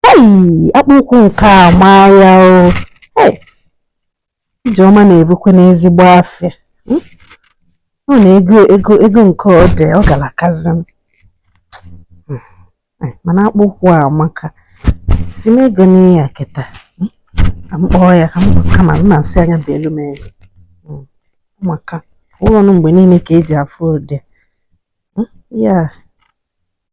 Ei, akpụ ụkwụ nke a maa ya o. Ei, Ijeọma na-ebukwa n'ezigbo afịa. Hmm? Mana ego nke ọ dị, ọ galakazi. Hmm. Eh, mana akpụ ụkwụ a amaka. Sị m egona ihe a kịta. Hmm? Ka m kpọọ ya ka m kama m na-asị na ọ ya-ebelu m ego. Hmm. Maka ọ wụrọ nụ mgbe niine ka e ji afụ ụdị. Hmm? Ya.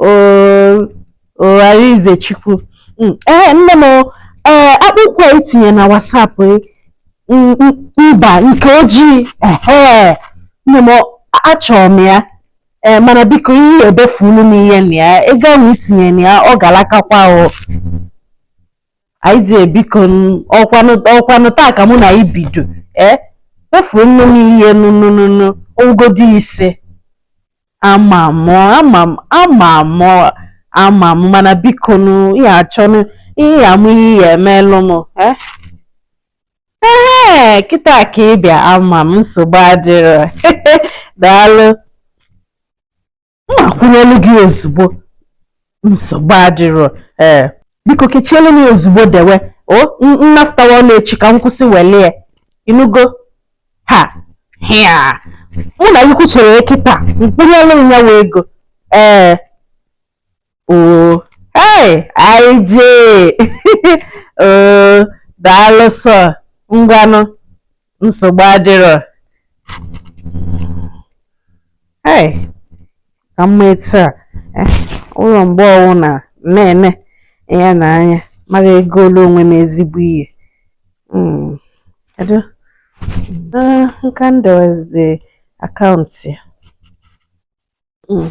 Oh Arinzechukwu mm, ee nne m ee akpụ ụkwụ a i tinye na WhatsApp e, mba nke ojii ee nne m achọrọ m ya ee mana biko ị ya-ebefulu m ihe na ya ego ahụ i tinye na ya ọ galakakwa o IJ biko ọkwanụ taa ka mụ na gị bido ee befuru nụ m ihe nụnụnụnụ ogodi ise Ama m, ama m, ama m, ama m, mana biko nụ ị ya-achọ nụ ihe ọ wụ ị ya-emelụ m. Eh? Ee, kịta ka ị bịa ama m nsogbu adịrọ. Daalụ. M ma-akwụnyelu gị ozugbo. nsogbu adịrọ ee biko kechielu m ya ozugbo dewe o m nafụtawa ọlụ echi ka m kwụsị welie ị nụgo ha ihe a mụ na gị kwuchere kịta m kwụnyelu ya wee ego ee oo hey IJ oo daalụ sọ ngwanụ nsogbu adịrọ ee ka mma etu a eh, ọ wụrọ mgbe ọ wụna na-ene ya na anya m ga-egolu onwe m ezigbo ihe hmm, kedu ah, nga m dewezidi account ya hmm.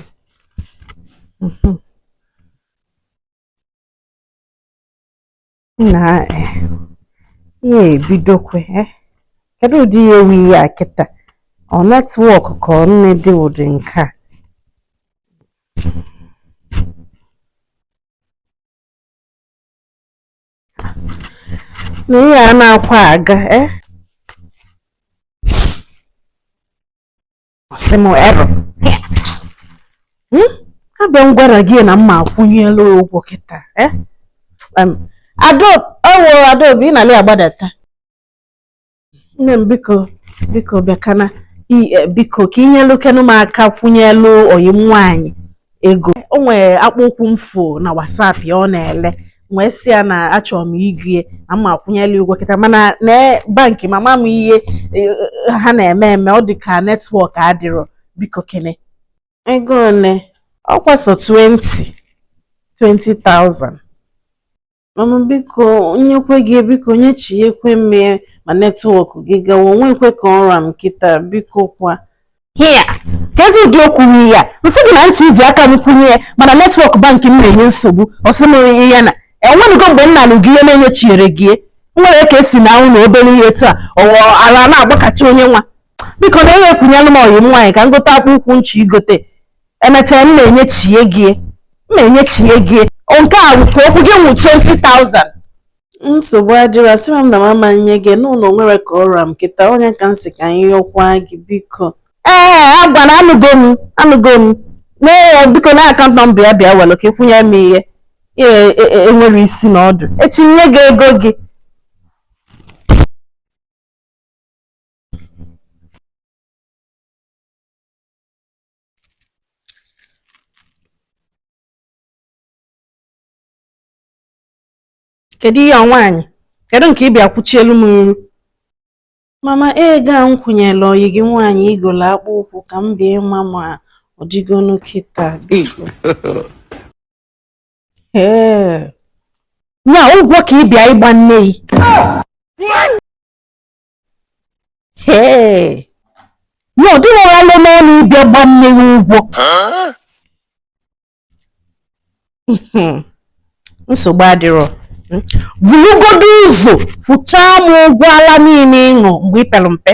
mhm. nna eh, ihe a ebidokwa eh? kedu ụdị ihe wụ ihe a kịta ọ network ka ọ gịnị dị ụdị nke a na ihe a anakwa aga eh? ọ sị m error hmm? abịa m gwara gị na m ma-akwụnyelu ụgwọ kịta eh? ewo adaobi ị na-alị agbadata nne m biko biko bịakene eh, biko ka i nyelukenụ m aka kwụnyelu ọyị m nwaanyị ego o nwere akpụ ụkwụ m fụ na WhatsApp ya ọ na-ele wee sị ya na achọrọ m igo ya na m ma akwụnyelụ ụgwọ kịta mana na bankị m ama m ihe e, e, ha na-eme eme ọ dị ka netwọk adịrọ biko kene ego ole ọ kwa sọ 20 20,000 Mama biko m nyekwe gị biko nyechiekwe m ya ma netwọk gị gawa o nwekwe ka ọ ra m kịta biko kwa hia kezi ụdị okwu nri ya m sị gị na m chọ iji aka m kwụnye ya mana netwọk bankị m na-enye nsogbu ọ sị m nye ya na o nwenugo mgbe m nalụ gị ihe na-enyechirọ gị nwere ka esi na ụlọ obere ihe taa ọ wụ ala na-agbakacha onye nwa biko nne kwụnyelụ m ọyị m nwaanyị ka m gote akpụ ụkwụ m chọ igote emechaa m na-enyechie gị m na-enyechie gị nke a bụ ka okwu gị wụ 20,000 nsogbu adịrọ sị m na m ama enye gị n'ụlọ nwere ka ọ ra m kịta onye ka m sị ka anyị yọkwa gị biko ee ngwanụ anụgo m anụgo m na biko na akaụntụ nọmba ya bịa were ka ị kwụnye m ihe ee e- e- enwere isi na ọdụ echi nye gị ego gị kedu ihe a nwaanyị kedu nke ị bịa kwụchielụ m n'iru mama ego a m kwụnyelụ ọyị gị nwaanyị i golo akpụ ụkwụ ka m bịa ịma ma ọ dịgonu kịta biko ee nya ụgwọ ka ị bịa ịgba nne gị Ee, na ọ dịrọ gị alọ n'ọnụ ịbịa gba mụ ụgwọ. Nsogbu adịrọ. Bulugodo ụzọ kwụchaa m ụgwọ ala niile ị ṅụ mgbe i pelu mpe.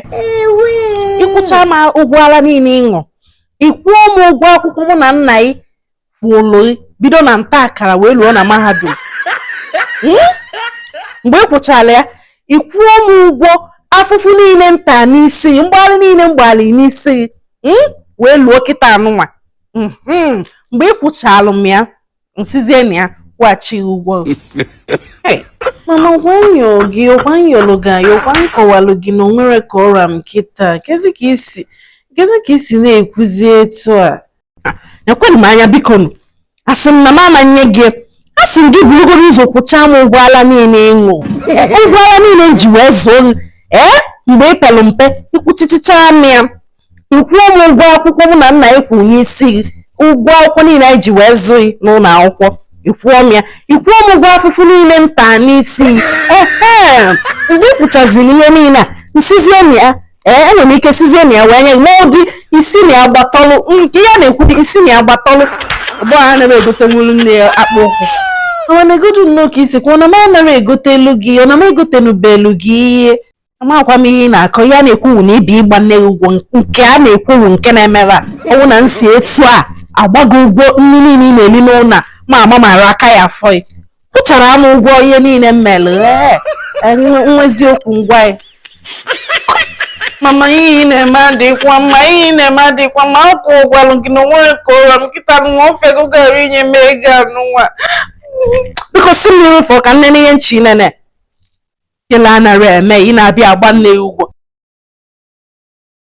Ị kwụchaa m ụgwọ ala niile ị ṅụ. Ị kwụọ m ụgwọ akwụkwọ mụ na nna gị kwụlụ bido na nta akara wee luo na mahadum hmm? mgbe ị kwụchalụ ya ị kwụọ m ụgwọ afụfụ niile m ta n'isi mgbalị niile m gbalị n'isi hmm? wee luo kịta anụnwa hmm. mgbe ị kwụchalụ m ya m sizie na ya kwụghachi ụgwọ mama ọ kwa m yọ gị ọ kwa m yọlụ gị ayọ ọ kwa m kọwalụ gị na o nwere ka ọ ra m kịta kezi ka i si na-ekwuzi etu a nekwenụ m anya bikonụ asị m na m ama enye gị a sị m gị bulugodo ụzọ kwụchaa m ụgwọ ala niile ị ṅụ ụgwọ ala niile m ji wee zụọ gị ee mgbe i pelu mpe ị kwụchichichaa m ya ị kwụọ m ụgwọ akwụkwọ mụ na nna gị kwụ n'isi gị ụgwọ akwụkwọ niile anyị ji wee zụọ gị n'ụlọ akwụkwọ ị kwụọ m ya ị kwụọ m ụgwọ afụfụ niile m ta n'isi gị ehe mgbe ị kwụchaziri ihe niile a m sizie n'ime ya ee enwere m ike sizie na ya wee nye gị ma ụdị isi na ya gbatọlụ nke ya na-ekwu dị isi na ya gbatọlụ ugbu a anaghị egotenwuru nne ya akpụ ụkwụ awanegodu nnọọ ka i si kwuo na m anaghị egotelu gị ọ na m egotenubelu gị ihe amakwa m ihe ị na-akọ ya na-ekwuwu na ị bịa ịgba nne gị ụgwọ nke a na-ekwuwu nke na-emebe a ọnwụ na nsi etu a agbago ụgwọ nri niile ị na-eli n'ụlọ a, ma ama mara aka ya afọ ya kwụchara m ụgwọ ihe niile m mere n'eziokwu ngwa ya mama ihe ị na-eme adịkwa mma ihe ị na-eme adịkwa mma ọ kwa m gwalụ gị na o nwere ka ọ ra m kịta nwa ofe gị gara inye m ego anụnwa biko si m n'iru fụọ ka m nene ihe nchi nene kele anara eme ị na-abịa agba nne gị ụgwọ